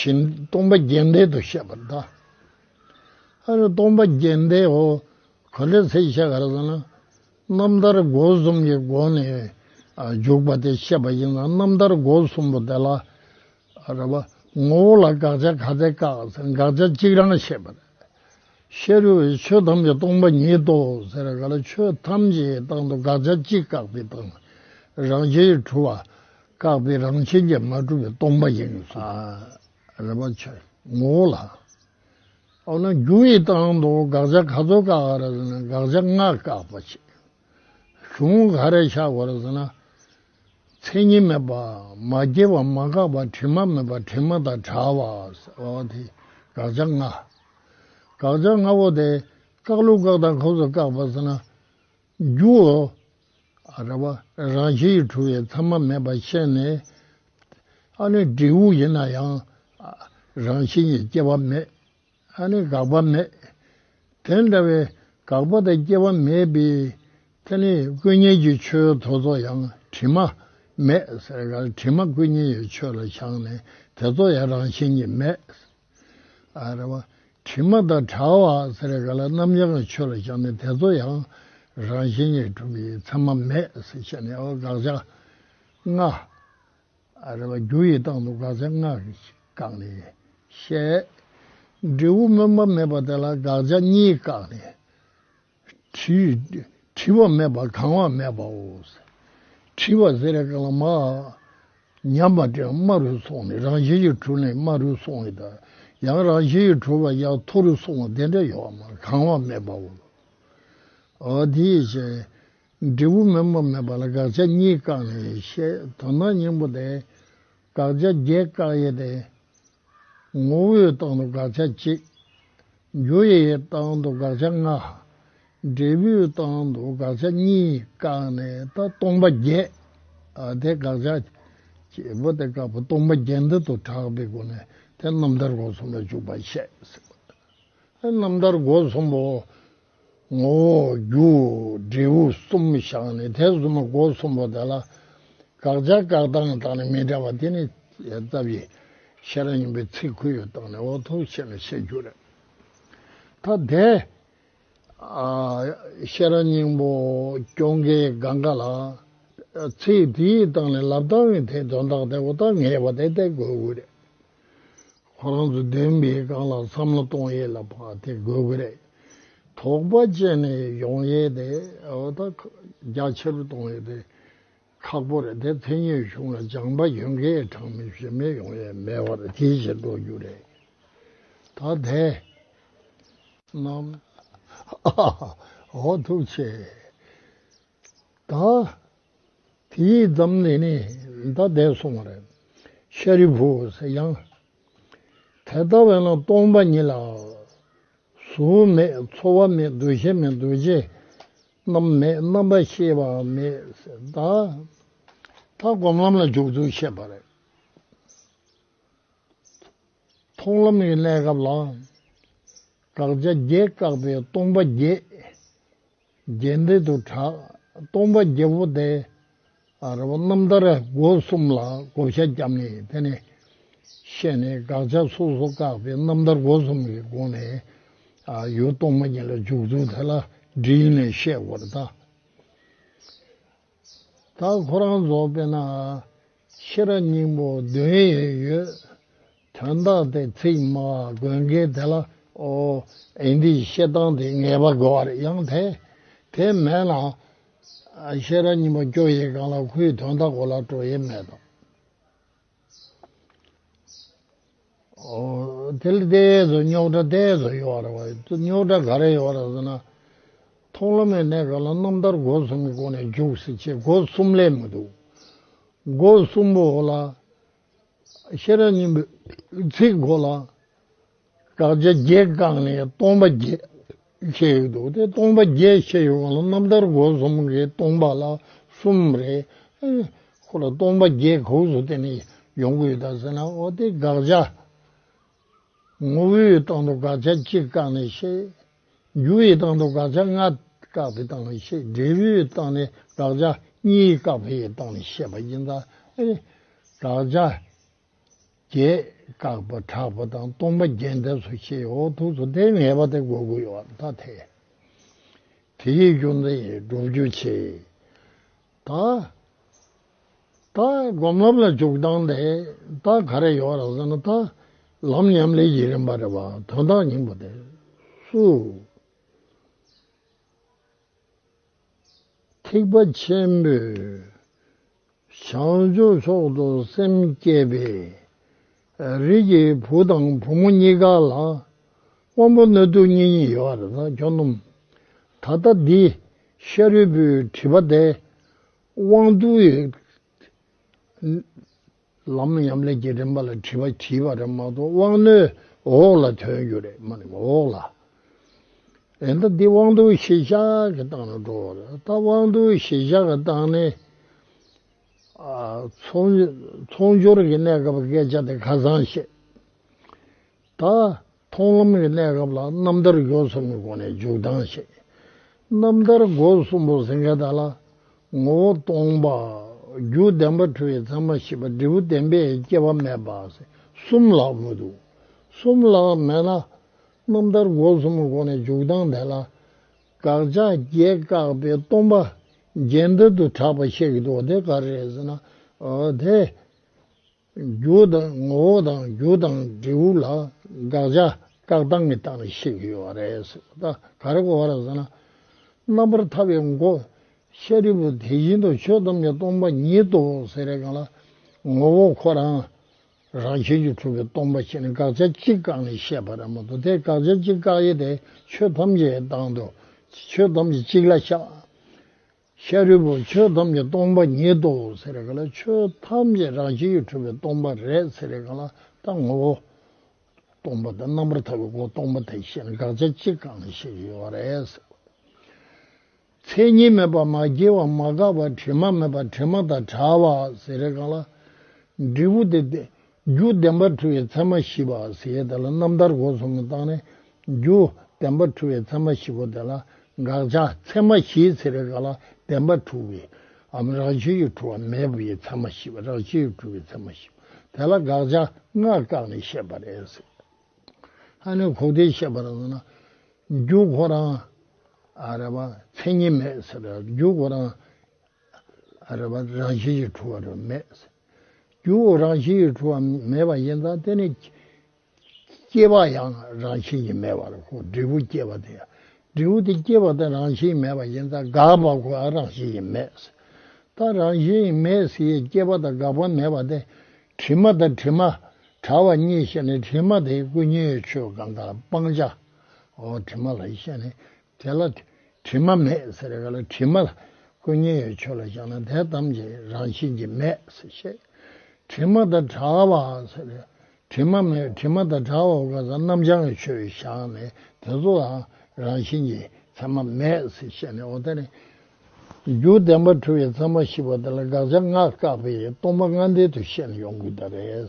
བཞིན་སྟོང་པ་རྒྱས་འདེབས་དུ་བཤད་པར་གདའ། ཨ་རེ་སྟོང་པ་རྒྱས་འདེབས་འོ། ག་ལེར་ཚེག་བཤད་ག་རེ་ཟེར་ན། རྣམ་ཐར་སྒོ་གསུམ་གྱི་སྒོ་ནས་འཇུག་པ་དེ་བཤད་པ་ཡིན་ན་རྣམ་ཐར་སྒོ་གསུམ་པོ་དེ་ལ། ཨ་རེ་བ། ངོ་བོ་ལ་དགག་བྱ་ག་ཚད་བཀག་ཟེར་ན་དགག་བྱ་གཅིག་རང་བཤད་པ་རེད། ཤེས་རུལ་བས་ཆོས་ཐམས་ཅད་སྟོང་པ་ཉིད་དོ་ཟེར་ག་ལ་ཆོས་ཐམས་ཅད་ཀྱི་སྟེང་དུ་དགག་བྱ་གཅིག་བཀག་པའི་སྟེང་རང་བཞིན་གྲུབ་བ། བཀག་པའི་རང་བཞིན་གྱིས་མ་གྲུབ་པའི་སྟོང་པ་ཡིན་ལ། རེ་བ་ཆོད་ངོ་བོ་ལ། འོ་ན་རྒྱུ་ཡི་སྟེང་དུ་དགག་བྱ་ག་ཚོད་བཀག་ཨ་རེ་ཟེར་ན་དགག་བྱ་ལྔ་བཀག་པ་ཆེ། གཞུང་ག་རེ་བཞག་གོ་རེ་ཟེར་ན། མཚན་ཉིད་མེད་པ་མ་སྐྱེས་པ་མ་འགགས་པ་དྲི་མ་མེད་པ་དྲི་མ་དང་བྲལ་བ་ཟེར་བ་དེ་དགག་བྱ་ལྔ། དགག་བྱ་ལྔ་བོ་དེ་བཀག་ལུགས་བཀག་དང་ག་ཚོད་བཀག་པ་ཟེར་ན། རྒྱུའོ། ར་བ། རང་བཞིན་གྱིས་གྲུབ་པའི་མཚན་མ་མེད་པར་ཤེས་ནས། ཨ་ནི་འབྲས་བུ་ཡིན་ན་ཡང། རང་བཞིན་གྱིས་སྐྱེ་བ་མེད། ཨ་ནི་འགག་པ་མེད། དེ་འདྲ་བའི་འགག་པ་དང་སྐྱེ་བ་མེད་པའི་ཐད་ནས་ཀུན་ཉོན་གྱི་ཆོས་ཐོ་ཚོགས་ཡང་དྲི་མ་མེད། དྲི་མ་ཀུན་ཉོན་ཡོད་ཆོས་ལ་བཞག་ནས་དེ་ཚོ་ཡང་རང་བཞིན་གྱིས་མེད། རེ་བ། དྲི་མ་དང་དྲྭ་བ་ཟེར་བའི་ག་ལ་རྣམ་གཞག་གི་ཆོས་ལ་བཞག་ནས་དེ་ཚོ་ཡང་རང་བཞིན་གྱིས་གྲུབ་པའི་མཚན་མ་མེད་ཟེར་བཤད་ནས་འོ་དགག་བྱ་ལྔ། རེ་བ། རྒྱུ་ཡི་སྟེང་དུ་དགག་བྱ་ལྔ་བཀག་ནས་བཤད། འབྲས་བུ་སྨོན་པ་མེད་པ་དེ་ལ་དགག་བྱ་གཉིས་བཀག་ནས། ཁྲིའི་ཁྲི་བ་མེད་པར་གང་བ་མེད་པའོ། ཁྲི་བ་ཟེར་རེ་ཀ་ལ་མ། ཉམས་པ་དེ་དམའ་རུ་སོང་ནས་རང་བཞིན་གྱིས་གྲུབ་ནས་དམའ་རུ་སོང་བའི་དང་ཡང་རང་བཞིན་གྱིས་གྲུབ་པ་ཡང་མཐོ་རུ་སོང་བ་དེ་འདྲ་ཡོད་བ་མ་གང་བ་མེད་པའོ། དེའི་ཕྱིར་འབྲས་བུ་དམན་པ་མེད་པ་ལ་དགག་བྱ་གཉིས་བཀག་ནས་བཤད་དོ་ན་སྙིང་པོ་དེ་དགག་བྱ་བརྒྱད་བཀག་ཡོད་དེ། ངོ་བོའི་རྟགས་དང་དགག་བྱ་གཅིག། རྒྱུ་ཡི་རྟགས་དང་དགག་བྱ་ལྔ། འབྲས་བུའི་རྟགས་དང་དགག་བྱ་གཉིས་བཀག་ནས་ད་སྟོང་པ་བརྒྱད་དེ་དགག་བྱ། བྱེད་པོ་དེ་བཀག་པ་སྟོང་པ་བརྒྱད་འདི་དུ་གྲགས་པའི་སྒོ་ནས་དེ་རྣམ་ཐར་སྒོ་གསུམ་ལ་འཇུག་པར་བཤད། རྣམ་ཐར་སྒོ་གསུམ་པོ། ངོ་བོ་རྒྱུ་འབྲས་བུ་གསུམ་བཞག་ནས་དེ་གསུམ་པོ་སྒོ་གསུམ་པོ་དེ་ལ་དགག་བྱ་བཀག་སྟངས་དང་ནི་མི་འདྲ་བ་དེ་ནི་རྩ་བཞི་ཤེས་རབ་སྙིང་པོའི་ཚིག་ཁུར་ཡོད་སྟངས་ནི་འོག་ཏུ་བཤད་ནས་བཤད་རྒྱུ་རེད། ཐ་དད་ཤེས་རབ་སྙིང་པོ་སྐྱོང་མཁན་གང་ག་ལ་ཚིག་དེའི་སྟངས་ནི་ལབ་སྟངས་ཀྱི་དེ་དོན་དག་དེ་འོག་ཏུ་ངེས་པ་དེ་བསྟན་དགོས་རེད། ཁོ་རང་ཚོ་འདོན་པའི་སྒང་ལ་བསམ་བློ་གཏོང་ཡས་ལ་བ་དེ་དགོས་གི་རེད། དོགས་པ་བཅད་ནས་ཡོང་ཡས་དེ་འོ་ད་རྒྱ་ཆེར་གཏོང་ཡས་དེ་ཁག་པོ་རེད་དེ་ཚེ་སྙོད་གཞུང་ལ་སྦྱང་པ་ཡོད་མཁན་གྲངས་མེད་བཞི་མེད་ཡོང་ཡས་མེད་བ་རེད་དེའི་ཕྱིར་འགྲོ་རྒྱུ་རེད་ད་དེ་རྣམས། ཨ་ཧ་ཧ་ཧ་འོ་ཐུགས་ཆེ། དང། དེའི་མཚམས་ནས་ནི་མདའ་འདེགས་སོང་བ་རེད། ཤཱ་རིའི་བུ་ཟེར་ཡང། དེ་ལྟ་བས་ན་སྟོང་པ་ཉིད་ལ། གཟུགས་མེད་ཚོར་བ་མེད་འདུ་ཤེས་མེད་འདུ་བྱེད་རྣམས་མེད་རྣམ་པར་ཤེས་པ་མེད། དང། ལྟ་སྒོམ་ལམ་ལ་འཇུག་ཚུལ་བཤད་པ་རེད། མཐོང་ལམ་གྱི་གནས་སྐབས་ལ། དགག་བྱ་བརྒྱད་བཀག་པས་སྟོང་པ་བརྒྱད། རྒྱས་འདེབས་དུ་གྲགས་སྟོང་པ་རྒྱལ་པོ་སྟེ། རྣམ་ཐར་སྒོ་གསུམ་ལ་བགོ་བཤའ་བརྒྱབ་ནས་དེ་ནས་བཤད་ནས་དགག་བྱ་སོ་སོ་བཀག་སྟེ་རྣམ་ཐར་སྒོ་གསུམ་གྱི་སྒོ་ནས་ཡུལ་སྟོང་པ་ཉིད་ལ་འཇུག་ཚུལ་དེ་ལ་བསྒྲིལ་ནས་བཤད་དགོས་ན། ད་ཁོ་རང་རྫོགས་པས་ན། ཤེས་རབ་སྙིང་པོ་བདུན་ཡོད་ཡོད། དོན་དག་དེ་ཚིག་སྨྲ་བ་དགོན་དགེ་དེ་ལ་ཨོ། ཨེ་འདིས་བཤད་སྟངས་དེ་ངེས་པ་དགོས་བར་ཡང་ཐལ། དེ་མེད་ན། ཤེས་རབ་སྙིང་པོ་སྐྱོ་ཡི་གང་ལ་ཁོའི་དོན་དག་གོ་ལ་སྤྲོ་ཡི་མེད་དམ། དེ་ལ་དེའི་གཡས་སུ་རྙོག་དྲ་དེའི་གཡས་སུ་གཡོ་བ་རེད་བ། རྙོག་དྲ་ག་རེ་ཡོད་རེད་ཟེར་ན། མཐོང་ལམ་ཡང་གནས་ག་ལ་རྣམ་ཐར་སྒོ་གསུམ་གྱི་སྒོ་ནས་རྒྱུགས་སྲིད་ཅེས་སྒོ་གསུམ་ལས་མི་འདུག་སྒོ་གསུམ་པོ་ལ། ཤེས་རབ་སྙིང་པོའི་ཚིག་གོ་ལ། བྲག་ཆ་བརྒྱད་བཀག་ནས་སྟོང་པ་བརྒྱད་ཕྱེ་ཡོད་འདུག་སྟེ་སྟོང་པ་བརྒྱད་ཕྱེ་ཡོད་པ་ལ་རྣམ་ཐར་སྒོ་གསུམ་གྱི་སྟོང་པ་ལ་གསུམ་རེ་ཁོ་ལ་སྟོང་པ་བརྒྱད་གོག་སུ་བརྟེན་ནས་ཡོང་གི་ཡོད་ད་ཟེར་ན་འོ་དེ་དགག་བྱ་ངོ་བོའི་སྟེང་དུ་དགག་བྱ་གཅིག་བཀག་ནས་བཤད། འགྱུར་བའི་སྟེང་དུ་དགག་བྱ་ལྔ་བཀག་པའི་སྟེང་ནས་བཤད་འབྲས་བུའི་སྟེང་ནས་དགག་བྱ་གཉིས་བཀག་པའི་སྟེང་ནས་བཤད་པ་ཡིན་ད། དགག་བྱ། བརྒྱད། བཀག་པ་དྲག་པ་དང་སྟོང་པ་རྒྱས་འདེབས་སུ་ཕྱེའི་འོག་ཐུག་ཚོ་དེའི་ངེས་པ་དེ་འགོག་དགོས་བ་ད་ཐལ། དེ་ཡི་རྒྱུ་མཚན་ཡིན་སྒྲུབ་རྒྱུ་ཆེ། ད། ད་སྒོམ་ལམ་ལ་འཇུག་སྟངས་དེ་ད་ག་རེ་ཡོད་རང་བསམ་ན་ད། ལམ་ཉམས་ལེན་གྱི་རིམ་པ་རེད་བ་དོན་དག་སྙིང་པོ་དེ་སུ། ཐེག་པ་ཆེན་པོས་བྱང་ཆུབ་སོགས་དུ་སེམས་བསྐྱེད་པས། རིགས་ཀྱི་བུ་དང་བུ་མོ་གཉིས་ཀ་ལ་དབང་པོ་སྣོད་དུ་གཉིས་གཉིས་ཡོད་པར་ན་གྱོ་སྣུམ། ད་ལྟ་འདི་ཤ་རུས་པོའི་དྲི་བ་དེ་དབང་དུ། ལམ་ཉམས་ལེན་གྱི་རིམ་པ་ལ་དྲི་བ་གྱིས་པ་རེད་མ་གཏོགས་དབང་རྣོན་འོག་ལ་ཐོན་རྒྱུ་རེད་མ་རེད་འོག་ལ་ཨེ་འདུག་འདི་དབང་རྡུལ་ཞི་བཞག་གི་སྟངས་ལ་འགྲོ་བ་རེད་ད་དབང་རྡུལ་ཞི་བཞག་གི་སྟངས་ནི་ཚོང་སྦྱོར་གྱི་གནས་སྐབས་སྐད་ཆ་དེ་ཁ་སང་བཤད་ད། མཐོང་ལམ་གྱི་གནས་སྐབས་ལ་རྣམ་ཐར་སྒོ་གསུམ་གྱི་སྒོ་ནས་འཇུག་ལྡང་བྱེད། རྣམ་ཐར་སྒོ་གསུམ་པོ་ཟིན་ཁ་ད་ལ། ངོ་བོ་སྟོང་པ། རྒྱུ་བདེན་པ་འཁྲུལ་བའི་མཚན་མ་ཞི་བ་འབྲས་བུ་བདེན་པས་སྐྱེ་བ་མེད་པ། གསུམ་ལྷག་མི་འདུག་གསུམ་ལྷག་མེད་ན། རྣམ་ཐར་སྒོ་གསུམ་གྱི་སྒོ་ནས་འཇུག་ལྡང་དེ་ལ། དགག་བྱ་བརྒྱད་བཀག་པའི་སྟོང་པ། རྒྱན་ལྟར་དུ་གྲགས་པ་བཤད་ཀྱི་འདུག་དེ་ག་རེ་ཟེར་ན། དེ། རྒྱུ་དང་ངོ་བོ་དང་རྒྱུ་དང་འབྲས་བུ་ལ་དགག་བྱ་བཀག་སྟངས་ཀྱི་སྟངས་རེ་ཤེས་གི་ཡོད་པ་རེད་ཟེར་བ་ད་ག་རེ་གོ་བ་རེད་ཟེར་ན། རྣམ་པར་ཐར་པའི་མགོ་ཤ་རིལ་པོ་དེ་བཞིན་དུ་ཆོས་ཐམས་ཅད་སྟོང་པ་ཉིད་དོ་ཟེར་རེས་གང་ལ། ངོ་བོ་ཁོ་རང་རང་བཞིན་གྱིས་གྲུབ་པའི་སྟོང་པ་ཆེ་ནི་དགག་བྱ་གཅིག་བཀག་ནས་བཤད་པ་རེད་མ་གཏོགས་དེ་དགག་བྱ་གཅིག་བཀག་ཡས་དེ་ཆོས་ཐམས་ཅད་དང་དུ་ཆོས་ཐམས་ཅད་གཅིག་ལ་ཤ་ཤཱ་རིའི་བུ་ཆོས་ཐམས་ཅད་སྟོང་པ་ཉིད་དོ་ཟེར་རེ་ག་ལ་ཆོས་ཐམས་ཅད་རང་བཞིན་གྱིས་གྲུབ་པའི་སྟོང་པ་རེད་ཟེར་རེ་ག་ལ་དང་ངོ་བོ་སྟོང་པ་དང་རྣམ་པར་ཐར་པའི་སྒོ་སྟོང་པ་དེ་བཞིན་དགག་བྱ་གཅིག་གང་ཞིག་ཡོད་རེད་ཟེར། མཚན་ཉིད་མེད་པར་མ་སྐྱེས་པར་མ་འགགས་པར་དྲི་མ་མེད་པར་དྲི་མ་དང་བྲལ་བ་ཟེར་རེ་ག་ལ། འབྲས་བུ་དེ་རྒྱུ་བདེན་པར་འཁྲུལ་བའི་མཚན་མ་བཞི་པ་ཟད་དེ་ལ་རྣམ་ཐར་སྒོ་གསུམ་གྱི་རྟགས་ནི། རྒྱུ་བདེན་པར་འཁྲུལ་བའི་མཚན་མ་བཞི་པོ་དེ་ལ་དགག་བྱ་མཚན་མ་བཞིའི་ཚེ་རེས་འགའ་ལ་བདེན་པར་འཁྲུལ་བའི་འམ་རང་བཞིན་གྱིས་འཁྲུལ་བ་མེད་པའི་མཚན་མ་བཞི་པ་རང་བཞིན་གྱིས་འཁྲུལ་བའི་མཚན་མ་བཞི་པོ་དེ་ལ་དགག་བྱ་ལྔ་བཀག་ནས་བཤད་པར་ཨེ་ཟད། ཧ་ནི་གོ་བདེའི་བཤད་པར་མཚོན་ན། རྒྱུ་ཁོ་རང། རེ་བ་མཚན་ཉིད་མེད་ཟེར། རྒྱུ་ཁོ་རང། རེ་བ་རང་བཞིན་གྱིས་འཁྲུལ་བ་རེ་མེད། རྒྱུ་འོག་རང་བཞིན་གྱིས་འཁྲུལ་བ་མེད་པ་ཡིན་ཙང་དེ་ནི། སྐྱེ་བ་ཡང་རང་བཞིན་གྱིས་མེད་པར་གོ་འབྲས་བུ་སྐྱེ་བ་དེ། འབྲས་བུ་དེ་སྐྱེ་བ་དེ་རང་བཞིན་མེད་པ་ཡིན་ཙང་འགགས་པ་གོ་ཡང་རང་བཞིན་གྱིས་མེད། ལྟ་རང་བཞིན་གྱིས་མེད་ཟེར་ཡང་སྐྱེ་བ་དང་འགག་པ་མེད་པ་དེ། དྲི་མ་དང་དྲི་མ་བྲལ་བ་གཉིས་ཤེས་ནས་དྲི་མ་དེ་ཀུན་ཉོན་མོངས་ཆོས་གང་གང་སྤང་བྱའོ་དྲི་མ་ལ་ཤེས་ནས་དེ་ལ་དྲི་མ་མེད་ཟེར་བའི་ག་ལ་དྲི་མ་ལ་ཀུན་ཉེ་ཡོད་ཆོས་ལ་བཞག་ན་དེ་ཐམས་ཅད་རང་བཞིན་གྱིས་མེད་ཟེར་ཤེས། དྲི་མ་དང་བྲལ་བ་ཟེར་བའི་དྲི་མ་མེད་དྲི་མ་དང་བྲལ་བ་གང་ཟག་རྣམ་བྱང་གི་ཆོས་བཞག་ནས་དེ་ཚོ་ལའང་རང་བཞིན་གྱིས་མཚན་མ་མེད་ཟེར་ཤེས་ནས་འོ་ད་ནི་རྒྱུ་བདེན་པ་འཁྲུལ་བའི་མཚན་མ་ཞི་བ་དེ་ལ་དགག་བྱ་ལྔ་བཀག་པའི་སྟོང་པ་ལྔ་འདས་དུ་ཤེས་ནས་ཡོང་དགོས་ད་རེད།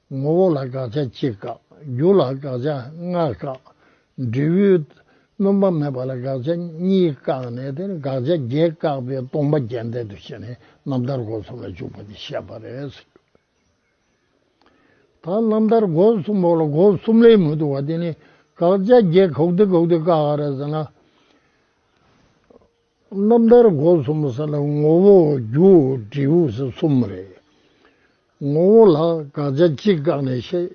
ངོ་བོ་ལ་དགག་བྱ་གཅིག་བཀག་རྒྱུ་ལ་དགག་བྱ་ལྔ་བཀག། འབྲས་བུའི་སྣོམ་པ་མེད་པ་ལ་དགག་བྱ་གཉིས་བཀག་ནས་དེར་དགག་བྱ་བརྒྱད་བཀག་པའི་སྟོང་པ་རྒྱས་འདེབས་དུ་བྱས་ནས་རྣམ་ཐར་སྒོ་གསུམ་ལ་འཇུག་པ་འདི་བཤད་པ་རེད། ད་རྣམ་ཐར་སྒོ་གསུམ་པོ་ལ་སྒོ་གསུམ་ལས་མི་འདུ་བ་དེ་ནི་དགག་བྱ་བརྒྱད་གོག་ཏུ་གོག་ཏུ་བཀག་ག་རེ་ཟེར་ན། རྣམ་ཐར་སྒོ་གསུམ་ས་ལ་ངོ་བོ་རྒྱུ་འབྲས་ས་གསུམ་རེད། ངོ་བོ་ལ་དགག་བྱ་གཅིག་བཀག་ནས་བཤད།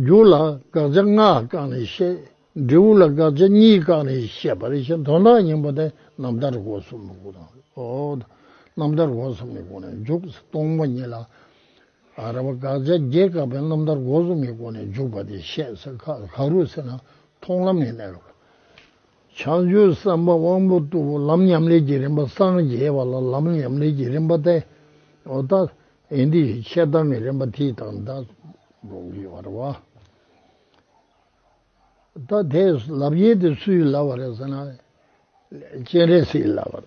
རྒྱུ་ལ་དགག་བྱ་ལྔ་བཀག་ནས་བཤད། འབྲས་བུ་ལ་དགག་བྱ་གཉིས་བཀག་ནས་བཤད་པ་རེད་བཞིན་དོན་དག་སྙིང་པོ་དེ་རྣམ་ཐར་སྒོ་གསུམ་ནས་གོ་ཐང་རེད། རྣམ་ཐར་སྒོ་གསུམ་གྱི་སྒོ་ནས་འཇུག་ས་སྟོང་པ་ཉིད་ལ། ར་བ་དགག་བྱ་བརྒྱད་བཀག་པའི་རྣམ་ཐར་སྒོ་གསུམ་གྱི་སྒོ་ནས་འཇུག་པ་དེ་བཤད་ས་ག་རུ་ཟེར་ན་མཐོང་ལམ་ཡིན། བྱང་ཆུབ་སེམས་དཔའ་དབང་པོ་གཙུག་ཕུག་ལམ་ཉམས་ལེན་གྱི་རིམ་པ་སངས་རྒྱས་པ་ལ་ལམ་ཉམས་ལེན་གྱི་རིམ་པ་སྟེ། ཨོ་ད་ཨེ་འདི་ཞེས་འཆད་སྟངས་ཀྱི་རིམ་པ་ཐིག་དང་བརྡ་སྦྱོང་གི་བར་བ། ད་དེས་ལབ་ཡེ་དེ་སུའི་ལབ་བ་རེད་ཟེར་ན། སྤྱན་རས་གཟིགས་ལབ་བ་རེད།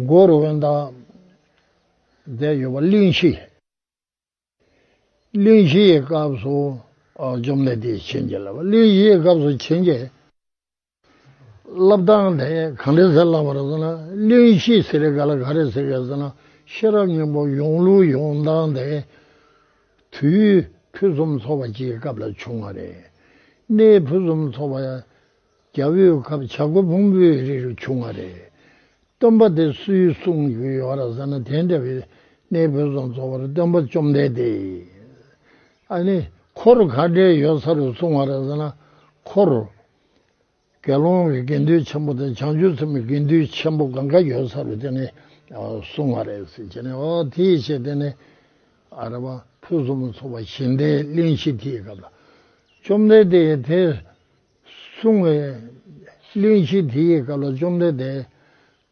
སྒོ་རུ་དབེན་དང་བསྡད་ཡོད་པ་གླིང་བཞི་ཡིན། གླིང་བཞི་ཡི་སྐབས་སུ་འཇོམས་ལས་དེའི་བྱིན་གྱིས་བརླབས་པ་གླིང་བཞི་ཡི་སྐབས་སུ་བྱིན་གྱིས་བརླབས་སྟངས་དེ་གང་འདྲས་ཟེར་ལབ་པར་སོང་ན་གླིང་བཞི་ཟེར་རེ་ག་ལ་ག་རེ་ཟེར་ག་ཟེར་ན་ཤེས་རབ་སྙིང་པོ་ཡོངས་ལུས་ཡོངས་དྭངས་དེ་དུས་ཕུན་སུམ་ཚོགས་པ་སྤྱིའི་སྐབས་ལ་བྱུང་བ་རེད། གནས་ཕུན་སུམ་ཚོགས་པ་རྒྱ་བོད་ཁབ་བྱ་སྒོ་སྤུངས་པོའི་རི་རུ་བྱུང་བ་རེད། སྟོན་པ་དེ་སུའི་གསུང་བརྒྱུད་ཡོད་ར་ཟེར་ན་དེ་འདྲ་བའི་གནས་བོད་རྫོང་གཙོ་བོར་སྟོན་པ་བཅོམ་ལྡན་འདས་ཨ་ནི་འཁོར་ག་འདྲའི་ཡོད་ས་རུ་སོང་བ་ར་ཟེར་ན་འཁོར་དགེ་སློང་གི་དགེ་འདུན་ཆེན་པོ་དང་བྱང་ཆུབ་སེམས་དགེ་འདུན་ཆེན་པོ་གང་ག་ཡོད་ས་རུ་དེ་ནི་སོང་བ་རེད་ཟེར་གྱི་ནས་ཨོ་དེའི་ཕྱིར་དེ་ནི་ཨ་ར་བ་ཕུན་སུམ་ཚོགས་པ་ཞིང་བྲན་གླིང་ཞིག་དེའི་སྐབས་ལ་བཅོམ་ལྡན་འདས་དེ། གསུང་ངོ། གླིང་བཞི་དེ་ཡི་སྐབས་ལ་བཅོམ་ལྡན་འདས།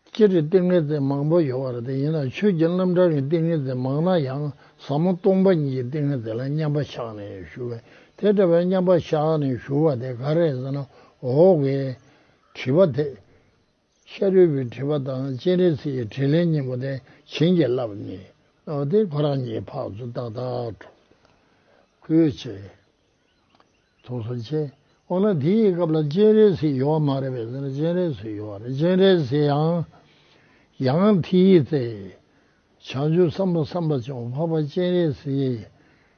སྤྱིར་ཏིང་ངེ་འཛིན་མང་པོ་ཡོད་པར་ཐལ། ཡིན་ནའང་ཆོས་ཀྱི་རྣམ་གྲངས་ཀྱི་ཏིང་ངེ་འཛིན་མང་ན་ཡང་ཟབ་མོ་སྟོང་པ་ཉིད་ཀྱི་ཏིང་ངེ་འཛིན་ལ་མཉམ་པ་ཆགས་ནས་ཞུ་བས་དེ་འདྲ་བའི་མཉམ་པ་ཆགས་ནས་ཞུ་བ་དེ་ག་རེད་ཟེར་ན་འོ་གས། དྲི་བ། དེ་ཤ་རུས་པའི་དྲི་བ་དང་སྤྱན་རས་གཟིགས་ཀྱི་དྲིས་ལན་སྙིང་པོ་དེ་བྱིན་གྱིས་བརླབས་ནས་བསྔགས་ཏེ་ཁོ་རང་ཉིད་ཕག་མཛོད་ཏག་ཏག་གྲོངས། ཁུལ་བྱས། ཐུགས་སུ་ཆེ། འོ་ན་དེ་ཡི་སྐབས་ལ་སྤྱན་རས་གཟིགས་ཡོད་བ་མ་རེད་པས་ཟེར་ན་སྤྱན་རས་གཟིགས་ཡོད་བ་རེད་སྤྱན་རས་གཟིགས་ཡང་ཡང་དེ་ཡི་ཚེ་བྱང་ཆུབ་སེམས་དཔའ་སེམས་དཔའ་ཆེན་པོ་འཕགས་པ་སྤྱན་རས་གཟིགས་ཡིན།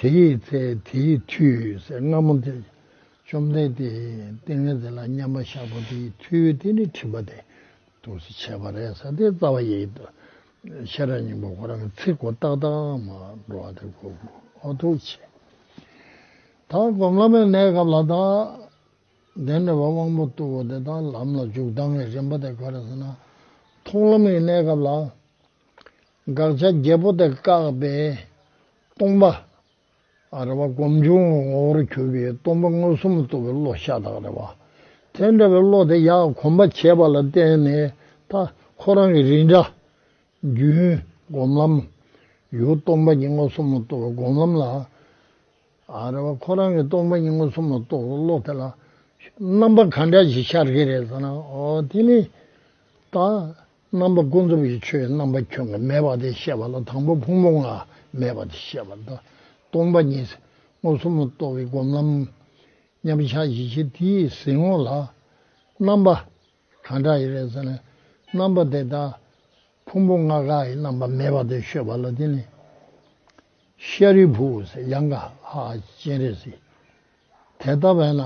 དེ་ཡི་ཚེ་དེ་ཡི་དུས་ཟེར་སྔ་མོ་དེ། བཅོམ་ལྡན་འདས་ཏིང་ངེ་འཛིན་ལ་མཉམ་པ་བཞག་པ་དེ་ཡི་མཐུས་དེ་ནི་ཁྲིད་པ་དེ་དུ་བྱས་པ་རེད་ས་དེའི་རྩ་བ་ཡི་ཤེས་རབ་སྙིང་པོ་ཁོ་རང་གི་ཚིག་གོ་རྟགས་དང་མ་འགྲོ་བ་དེ་གོ་འོ་ཐུག་བྱེད། ད་སྒོམ་བླ་མའི་གནས་སྐབས་ལ་དང། དེ་ནས་བ་དབང་པོ་རྟུལ་བོ་དེ་དང་ལམ་ལ་འཇུག་ལྡང་བའི་རིམ་པ་དེ་ག་རེ་ཟེར་ན། མཐོང་ལམ་གྱི་གནས་སྐབས་ལ། དགག་བྱ་བརྒྱད་པོ་དེ་བཀག་པས་སྟོང་པ། རེ་བ་བསྒོམ་བྱུང་ངོ་བོར་གྱུར་པའི་སྟོང་པ་མངོན་སུམ་རྟོགས་པའི་བློ་ཤ་སྟག་རེ་བ། དེ་འདྲ་བའི་བློ་དེ་ཡང་གོམས་པ་བྱས་པ་ལ་བརྟེན་ནས་ད་ཁོ་རང་གི་རིགས་འདྲ། རྒྱུན། སྒོམ་ལམ། ཡུལ་སྟོང་པ་ཉིད་མངོན་སུམ་རྟོགས་པའི་སྒོམ་ལམ་ལ། རེ་བ་ཁོ་རང་གི་སྟོང་པ་ཉིད་མངོན་སུམ་རྟོགས་པའི་བློ་དེ་ལ། རྣམ་པ་གང་འདྲ་ཞིག་ཤར་གྱི་རེད་ཟེར་ན། དེ་ནི། ད། རྣམ་པ་ཀུན་རྫོབ་ཀྱི་ཆོས་རྣམ་པ་ཁྱོད་ལ་མེད་པ་དེ་བཤད་པ་ལ་དང་པོ་ཕུང་པོ་ལྔ་མེད་པ་དེ་བཤད་པ་དང། སྟོང་པ་ཉིད་ཟིལ་ངོར་གསུམ་ལ་རྟོགས་པའི་སྒོམ་ལམ། མཉམ་གཞག་བཞི་ཆའི་དེ་ཡི་ཟིལ་ངོར་ལ། རྣམ་པ། གང་དག་ཡི་རེ་ས་ནས། རྣམ་པ་དེ་དག། ཕུང་པོ་ལྔ་ག་ཡི་རྣམ་པ་མེད་པ་དེ་ཤོད་པ་ལ་དེ་ནི། ཤཱ་རིའི་བུ། ཡང་ཀ་ཧ་སྤྱན་རས་གཟིགས། དེ་ལྟ་བས་ན་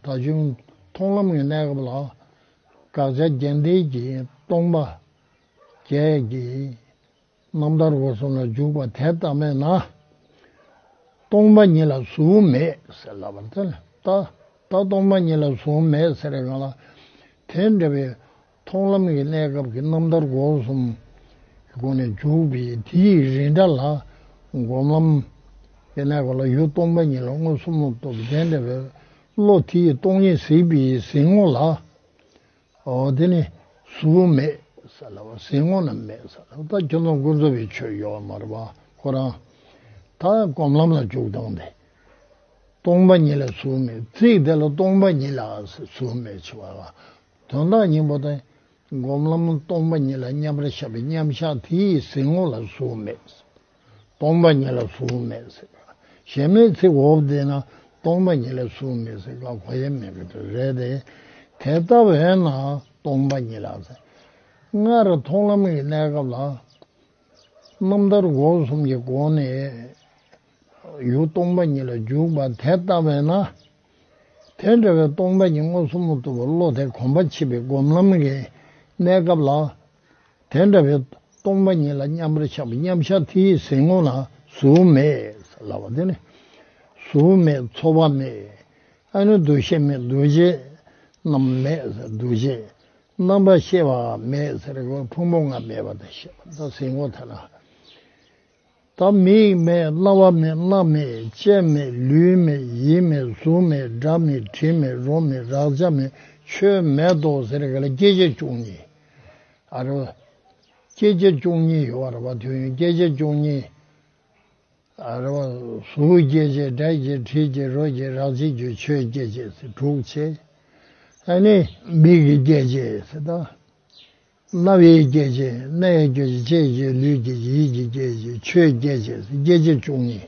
ད་གཞུང་མཐོང་ལམ་གྱི་གནས་སྐབས་ལ་དགག་བྱ་རྒྱན་ལྡན་གྱི་སྟོང་པ་བརྒྱད་ཀྱི་རྣམ་ཐར་སྒོ་གསུམ་ལ་འཇུག་པ་དེ་ལྟ་མེད་ན། སྟོང་པ་ཉིད་ལ་གཟུགས་མེད་ཟེར་ལབ་པར་ཐལ། ད་ལྟ་སྟོང་པ་ཉིད་ལ་གཟུགས་མེད་ཟེར་ཡོང་ལ་དེ་འདྲ་བའི། མཐོང་ལམ་གྱི་གནས་སྐབས་ཀྱི་རྣམ་ཐར་སྒོ་གསུམ་གྱི་སྒོ་ནས་འཇུག་པས་དེའི་རིས་འདྲ་ལ། སྒོམ་ལམ་གྱི་གནས་སྐབས་ལ་ཡུལ་སྟོང་པ་ཉིད་ལ་མངོན་སུམ་མོ་སྟོབས་ལྡན་འདྲ་བའི་བློ་དེ་ཡིས་སྟོང་ཉིད་གཟིགས་པས་གཟིགས་ངོ་ལ། དེ་ནི་གཟུགས་མེད་ས་ལ་བ་གཟིགས་ངོ་ན་མེད་ས་ལ་བ་ཁྱོད་རྣམས་ཀུན་རྩོལ་བའི་ཆོས་གཡོ་བ་མ་རུ་བ་ཁོ་རང་ད་སྒོམ་ལམ་ལ་འཇུག་སྟངས་དེ། སྟོང་པ་ཉིད་ལ་གཟུགས་མེད་གཟིགས་དེ་ལ་སྟོང་པ་ཉིད་ལ་གཟུགས་མེད་ཆེ་བ་ལ་དོན་དག་སྙིང་པོ་དང། སྒོམ་ལམ་སྟོང་པ་ཉིད་ལ་མཉམ་པར་བཞག་པའི་མཉམ་བཞག་དེ་ཡི་ཟིལ་ངོ་ལ་གཟུགས་མེད། སྟོང་པ་ཉིད་ལ་གཟུགས་མེད། ཞེས་སྨྲའི་ཚིག་འོག་འདི་ན་སྟོང་པ་ཉིད་ལ་གཟུགས་མེད་ཟེར་བ་གོ་ཡ་མེད་པའི་དོན་རེད་དེ། དེ་ལྟ་བས་ན་སྟོང་པ་ཉིད་ལ། སྔར་མཐོང་ལམ་གྱི་གནས་སྐབས་ལ། རྣམ་ཐར་འགོག་གསུམ་གྱི་སྒོ་ནས། ཡུལ་སྟོང་པ་ཉིད་ལ་འཇུག་པ་དེ་ལྟ་བས་ན། དེ་འདྲ་བའི་སྟོང་པ་ཉིད་མངོན་སུམ་དུ་བློ་དེ་གོམས་པ་མཆིས་པའི་སྒོམ་ལམ་གྱི་གནས་སྐབས་ལ། དེ་འདྲ་བའི་སྟོང་པ་ཉིད་ལ་མཉམ་པར་ཆགས་པའི་མཉམ་གཞག་དེ་ཡི་ཟིལ་ངོ་ན་གཟུགས་མེད་ལ་བ་དེ་ནི། གཟུགས་མེད་ཚོར་བ་མེད། ཨ་ནི་འདུ་ཤེས་མེད་འདུ་བྱེད་རྣམས་མེད་ཟེར་འདུ་བྱེད་རྣམ་པར་ཤེས་པའང་མེད་ཟེར་ཕུང་པོ་ལྔ་མེད་པ་དང་ཞེས་པ་ཟིལ་ངོ་དེ་ན། བདག་མེད་མེད་བླ་བ་མེད་བླ་མེད་བཅས་མེད་ལུས་མེད་ཡིད་མེད་གཟུགས་མེད་སྒྲ་མེད་དྲི་མེད་རོ་མེད་རག་བྱ་མེད་ཆོས་མེད་དོ་ཟེར་ག་ལ་སྐྱེ་མཆེད་བཅུ་གཉིས་ཨ་ར་བ། སྐྱེ་མཆེད་བཅུ་གཉིས་ཡོད་ཨ་ར་བ་དུས་ཡུན་སྐྱེ་མཆེད་བཅུ་གཉིས་ཨ་ར་བ། གཟུགས་སྐྱེ་མཆེད་སྒྲ་སྐྱེ་དྲི་སྐྱེ་རོ་སྐྱེ་རག་བྱེད་རྒྱུ་ཆོས་སྐྱེ་མཆེད་དྲུག་བྱས་ཨ་ནི། མིག་གི་སྐྱེ་མཆེད་སེ་ད། རྣ་བའི་སྐད་ཅིག་སྣའི་སྐད་ཅིག་ལྕེའི་སྐད་ཅིག་ལུས་སྐད་ཅིག་ཡིད་ཀྱི་སྐད་ཅིག་ཆོས་སྐད་ཅིག་སེམས་སྐད་ཅིག་བཅུ་གཉིས།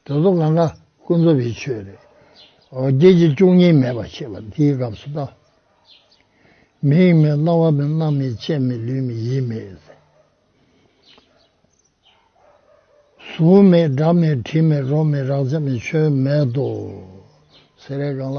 དེ་ཚོ་ང་ང་ཀུན་རྫོབ་པའི་ཆོས་རེད། སྐད་ཅིག་བཅུ་གཉིས་མེད་པར་ཤེས་པ་དེའི་སྐབས་སུ་ལྟ། མིག་མེད་རྣ་བ་མེད་སྣ་མེད་ལྕེ་མེད་ལུས་མེད་ཡིད་མེད། གཟུགས་མེད་སྒྲ་མེད་དྲི་མེད་རོ་མེད་རགས་ཆ་མེད་ཆོས་མེད་དོ། ཟེར་རེ་གང་ལ།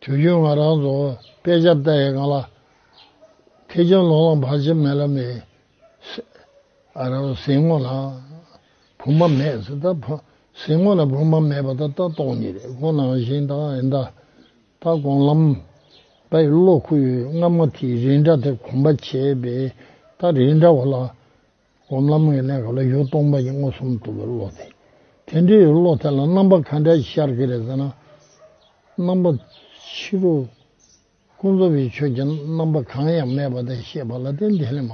དུས་རྒྱུན་ང་རང་རྫོང་དཔལ་ཆབ་རྟ་ཡི་སྒང་ལ་ཐེ་ཆུང་ལོང་ལོང་བར་ཆེ་མེ་ལ་མེ། ཨ་ར་རུ་ཟིང་ངོ་ན་བུ་མ་མེད་ཟེར་ད་ཕ་ཟིང་ངོ་ན་བུ་མ་མེད་པ་ད་ལྟ་སྟོང་ཉིད་རེད་ཁོ་ནང་བཞིན་ད་ཨེ་འདའ། ད་དགོངས་ལམ། ད་ཡི་བློ་ཁུ་ཡོད་སྔ་མོ་དེའི་རིས་འདྲ་དེ་གོམས་པ་བྱས་པས་ད་རིས་འདྲ་བ་ལ་སྒོམ་ལམ་ངེས་ལེགས་ལ་ཡུལ་སྟོང་པ་ཉིད་མངོན་སུམ་དུ་བློ་དེ། དེ་འདྲའི་བློ་དེ་ལ་རྣམ་པ་གང་འདྲ་ཞིག་ཤར་གྱི་རེད་ཟེར་ན། རྣམ་པ། ཕྱི་རོལ། ཀུན་རྫོབ་པའི་ཆོས་ཀྱི་རྣམ་པ་གང་ཡང་མེད་པ་དེ་ཤེས་པ་ལ་བརྟེན་དེ་ལས་མ་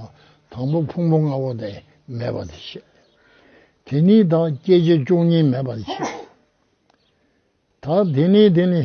དང་པོ་ཕུང་པོ་ལྔ་བོ་དེ་མེད་པ་དེ་ཤེས། དེ་ནི་དང་སྐྱེ་མཆེད་བཅུ་གཉིས་མེད་པ་དེ་ཤེས། དང་དེ་ནི་དེ་ནི།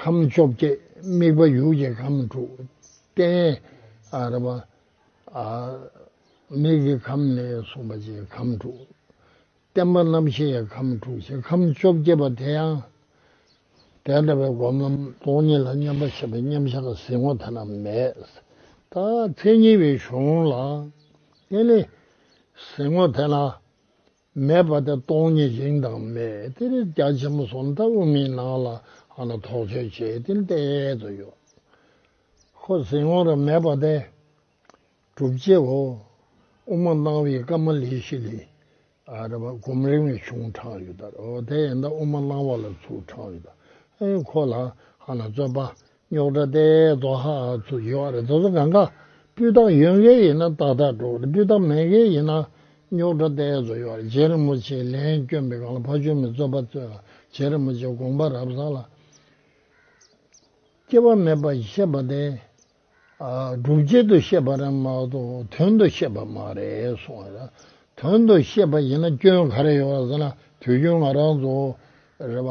ཁམས་བཅོ་བརྒྱད་དམིགས་པ་ཡུལ་གྱི་ཁམས་དྲུག་སྟེ། མིག་གི་ཁམས་ནས་གསུངས་པ་བཅས་ཁམས་དྲུག། བརྟན་པ་རྣམ་ཤེས་ཡི་ཁམས་དྲུག་ཅེས་ཁམས་བཅོ་བརྒྱད་པ་དེ་ཡང་དེ་འདྲ་བའི་སྒོམ་ལམ། སྟོང་ཉིད་ལ་མཉམ་པར་ཤེས་པའི་མཉམ་བཞག་གི་གཟིགས་ངོར་ཐ་ན་མེད། མཚན་ཉིད་པའི་གཞུང་ལ་བརྟེན་ནས་གཟིགས་ངོར་ཐལ། མེད་པ་དེ་སྟོང་ཉིད་དབྱིངས་དང་མེད་དེ་རེས་རྒྱ་ཆེན་པོ་ཟོམ་ལྟ་བུ་མིའི་ནང་ལ་དོགས་དཔྱོད་བྱེད་དེ་བསྟན་དུ་ཡོད། ཁོ་ཟིན་འོང་ར་མེད་པ་དེ་གྲུབ་རྗེས་འོ་དབུ་མ་སྣང་བའི་སྐབས་མ་ལི་ཤི་ལི་སྒོམ་རིང་བའི་གཞུང་དྲངས་ཡོད། དེ་ཡན་དབུ་མ་སྣང་བ་ལ་ཚུལ་དྲངས་ཡོད། ཁོ་ལ་རྩོད་པ་རྙོག་དྲ་སྟེ་རྫོགས་ཧ་ཚུ་ཡི་བ་རེ་རྫོགས་ཚུ་ག་འགའ་སྤུས་དག་ཡོད་མཁན་ཡིན་ན་ཏག་ཏག་འགྲོ་དགོས་སྤུས་དག་མེད་མཁན་ཡིན་ན་རྙོག་དྲ་སྟེ་རྫོགས་ཡི་བ་རེ་རྗེ་རིན་པོ་ཆེའི་ལན་བསྐྱོན་པའི་སྒང་ལ་ཕ་ཆོས་མེད་རྩོད་པ་རྩོད་ལ་རྗེ་རིན་པོ་ཆེའི་དགོངས་པ་རབ་བཟང་ལ་སྐྱེ་བ་མེད་པ་བཤད་པ་དེ་སྒྲུབ་བྱེད་དུ་བཤད་པ་རེད་མ་གཏོགས་དོན་དུ་བཤད་པ་མ་རེད་གསུངས་བ་དོན་དུ་བཤད་པ་ཡིན་ན་སྐྱོན་ག་རེ་ཡོད་ཟེར་ན་དུས་རྒྱུན་ང་རང་ཚོ་རེད་བ་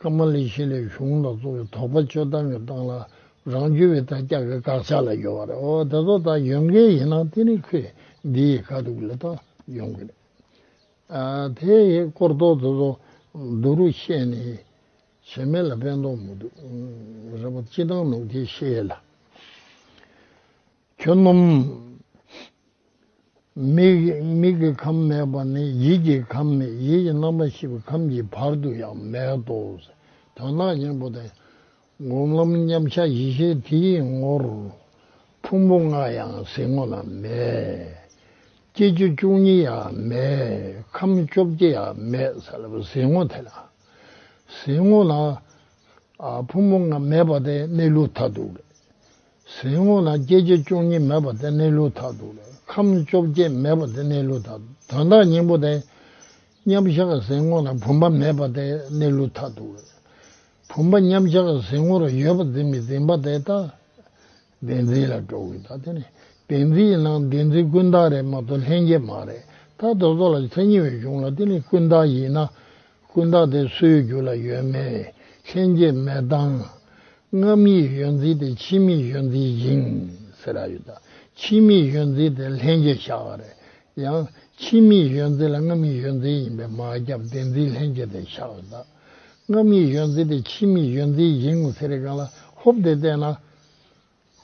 ཀ་མ་ལི་ཤི་ལའི་གཞུང་ལ་གཙོ་བའི་དོགས་པ་གཅོད་སྟངས་ཀྱི་སྟངས་ལ་རང་རྒྱུད་བའི་དར་དཀྱག་གི་དགག་བྱ་ལ་ཡོད་པ་རེད་འོ་དེ་ཚོ་དག་ཡོད་མཁན་ཡིན་ན་དེ་ནི་ཁོས་འདི་ཡི་དཀའ་སྡུག་ལས་ཐོག་ཡོང་གི་རེད་ཨ་དེ་ཡི་སྐོར་རྡོག་དེ་ཚོ་སྡུག་རུ་བཤད་ནས་བྱེ་མེད་ལ་ཕན་ཐོག་མི་འདུག་རེད་པ་སྤྱི་སྟངས་ནོར་གྱིས་ཤེས་ལ། ཁྱོད་སྣོམ། མིག་གི་ཁམས་མེད་པ་ནི་ཡིད་ཀྱི་ཁམས་མེད་ཡིད་ཀྱི་རྣམ་པ་ཤེས་པའི་ཁམས་ཀྱི་བར་དུ་ཡང་མེད་དོ། དོན་དག་གཉེན་པོ་དང། སྒོམ་ལམ་མཉམ་གཞག་བཞི་ཤེས་དེ་ཡི་ངོར། ཕུང་པོ་ལྔ་ཡང་གཟིགས་ངོ་ན་མེད། སྐྱེ་རྒྱུ་བཅུ་གཉིས་ཡང་མེད་ཁམས་བཅོ་བརྒྱད་ཡང་མེད་ཟེར་བ་གཟིགས་ངོ་དེ་ལ། གཟིགས་ངོ་ན། ཕུང་པོ་ལྔ་མེད་པ་དེ་གནས་ལུགས་མཐའ་དུག། ཟིལ་ངོ་ལ་སྐྱེ་མཆེད་བཅུ་གཉིས་མེད་པ་དེ་གནས་ལུགས་དག་ཏུ། ཁམས་བཅོ་བརྒྱད་མེད་པ་དེ་གནས་ལུགས་དག་ཏུ་དོན་དག་སྙིང་པོ་དེ། མཉམ་གཞག་ཟིལ་ངོ་ལ་བུམ་པ་མེད་པ་དེ་གནས་ལུགས་དག་ཏུ། བུམ་པ་མཉམ་གཞག་ཟིལ་ངོ་རུ་ཡོད་པ་འཛིན་མི་འཛིན་པ་དེ་དག། བདེན་འཛིན་ལ་འགྲོ་བའི་དག་དེ་ནི་བདེན་འཛིན་ཡིན་ན་བདེན་འཛིན་ཀུན་བཏགས་རེད་མ་གཏོགས་ལྷན་སྐྱེས་མ་རེད། དག་རྡོ་རྫོགས་ལ་མཚན་ཉིད་འོད་བྱུང་ལ་དེ་ནི་ཀུན་བཏགས་ཡིན་ན། ཀུན་བརྟགས་དེ་སུའི་རྒྱུད་ལ་ཡོད་མེད་ལྷན་སྐྱེས་མེད་སྟངས། རྔམ་ཡིག་གཞོན་རྩིས་དེ་ཕྱི་མིག་གཞོན་རྩིས་ཡིན། ཕྱི་མིག་གཞོན་རྩིས་དེ་ལྷན་སྐྱེས་ཤ་བ་རེད། ཡང། ཕྱི་མིག་གཞོན་རྩིས་ལ་རྔམ་ཡིག་གཞོན་རྩིས་ཡིན་པའི་མ་ཁྱབ་བདེན་རྩིས་ལྷན་སྐྱེས་དེ་ཤ་བ་རེད། རྔམ་ཡིག་གཞོན་རྩིས་དེ་ཕྱི་མིག་གཞོན་རྩིས་ཡིན། ཚེ་རིང་གངས་ལ་ཧོབ་སྟེ་བལྟས་ན།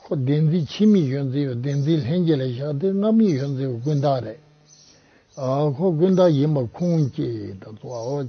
ཁོ་བདེན་རྫུན་ཕྱི་མིག་གཞོན་རྩིས་པའི་བདེན་རྫུན་ལྷན་རྒྱས་ལ་བཞག་སྟེ་སྔ་མིག་གཞོན་རྩིས་པའི་ཀུན་བཏགས་རེད། ཁོ་ཀུན་བཏགས་ཡིན་པ་ཁུངས་སྐྱེལ་ཏུ་བཙུད།